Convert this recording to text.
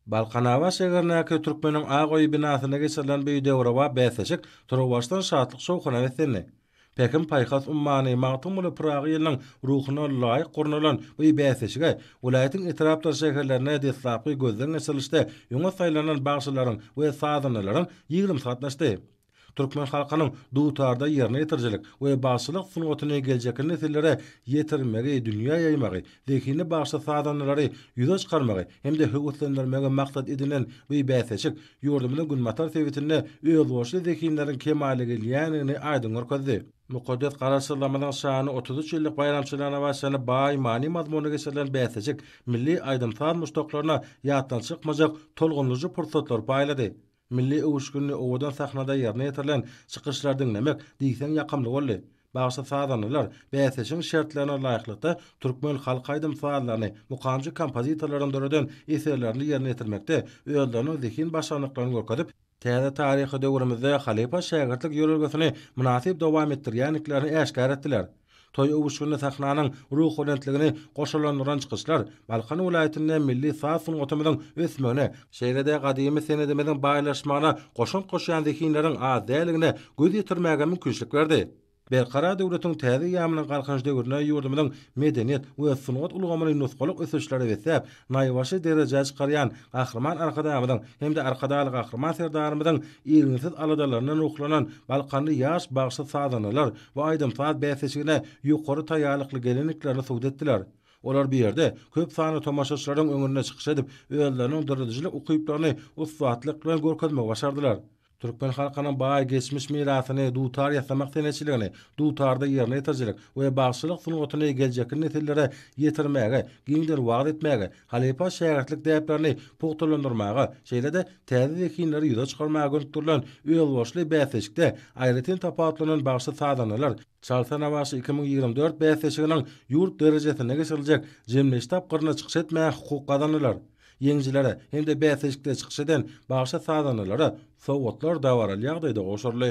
Balkanabat şäherindäki Türkmeniň ak öýi binasynda geçirilen bu döwrebap bäsleşik turuwbaşdan şatlyk-şowhuna beslendi. Pähim-paýhas ummany Magtymguly Pyragy ýylynyň ruhuna laýyk gurnalan bu bäsleşige welaýatyň etrapdyr şäherlerinde deslapky gözden geçirilişde öňe saýlanan bagşylaryň we sazandalaryň ýigrimi gatnaşdy. Türkmen halkynyň dutarda ýerine ýetirijilik we bagşylyk sungatyny geljekki nesillere ýetirmegi, dünýä ýaýmagy, zehinli bagşy sazandalary ýüze çykarmagy hem-de höweslendirmegi maksat edinen bu bäsleşik ýurdumyzyň günbatar sebitinde özboluşly zehinleriň kemala gelýändigini aýdyň görkezdi. Mukaddes Garaşsyzlygymyzyň şanly otuz üç ýyllyk baýramçylygyna bagyşlanyp baý many-mazmunly geçirilen bäsleşik milli aýdym-saz muşdaklaryna ýatdan çykmajak tolgundyryjy pursatlary paýlady. Milli öwüşginli owadan sahnada ýerine ýetirilen çykyşlary diňlemek diýseň ýakymly boldy. Bagşy sazandalar bäsleşigiň şertlerine laýyklykda türkmen halk aýdym sazlaryny, mukamçy kompozitorlaryň döreden eserlerini ýerine ýetirmekde özleriniň zehin başarnyklaryny görkezip, täze taryhy döwrümizde halypa-şägirtlik ýörelgesini mynasyp dowam etdirýändiklerini äşgär etdiler. Toý öwüşginli sahnanyň ruhubelentligini goşalandyran çykyşlar Balkan welaýatynda milli saz sungatymyzyň ösmegine, şeýle-de gadymy senedimiziň baýlaşmagyna goşant goşýan zehinleriň az däligine göz ýetirmäge mümkinçilik berdi. Berkarar döwletiň täze eýýamynyň Galkynyş döwründe ýurdumyzyň medeniýet we sungat ulgamyny nusgalyk ösüşlere besläp, naýbaşy derejä çykarýan Gahryman Arkadagymyzyň hem-de Arkadagly Gahryman Serdarymyzyň irginsiz aladalaryndan ruhlanan balkanly ýaş bagşy-sazandalar bu aýdym-saz bäsleşigine ýokary taýýarlykly gelendiklerini subut etdiler. Olar bu ýerde köp sanly tomaşaçylaryň öňünde çykyş edip, özleriniň döredijilik ukyplaryny ussatlyk bilen görkezmegi başardylar. Türkmen halkynyň baý geçmiş mirasyny, dutar ýasamak senetçiligini, dutarda ýerine ýetirijilik we bagşylyk sungatyny geljekki nesillere ýetirmäge, giňden wagyz etmäge, halypa-şägirtlik däplerini pugtalandyrmaga, şeýle-de täze zehinleri ýüze çykarmaga gönükdirilen özboluşly bäsleşikde aýratyn tapawutlanan bagşy-sazandalar, Çalsana bagşy iki müň ýigrimi dört bäsleşiginiň ýurt derejesinde geçiriljek jemleýiş tapgyryna çykyş etmäge hukuk gazanylar. Ýeňijilere hem-de bäsleşikde çykyş eden bagşy-sazandalara sowgatlar dabaraly ýagdaýda gowşuryldy.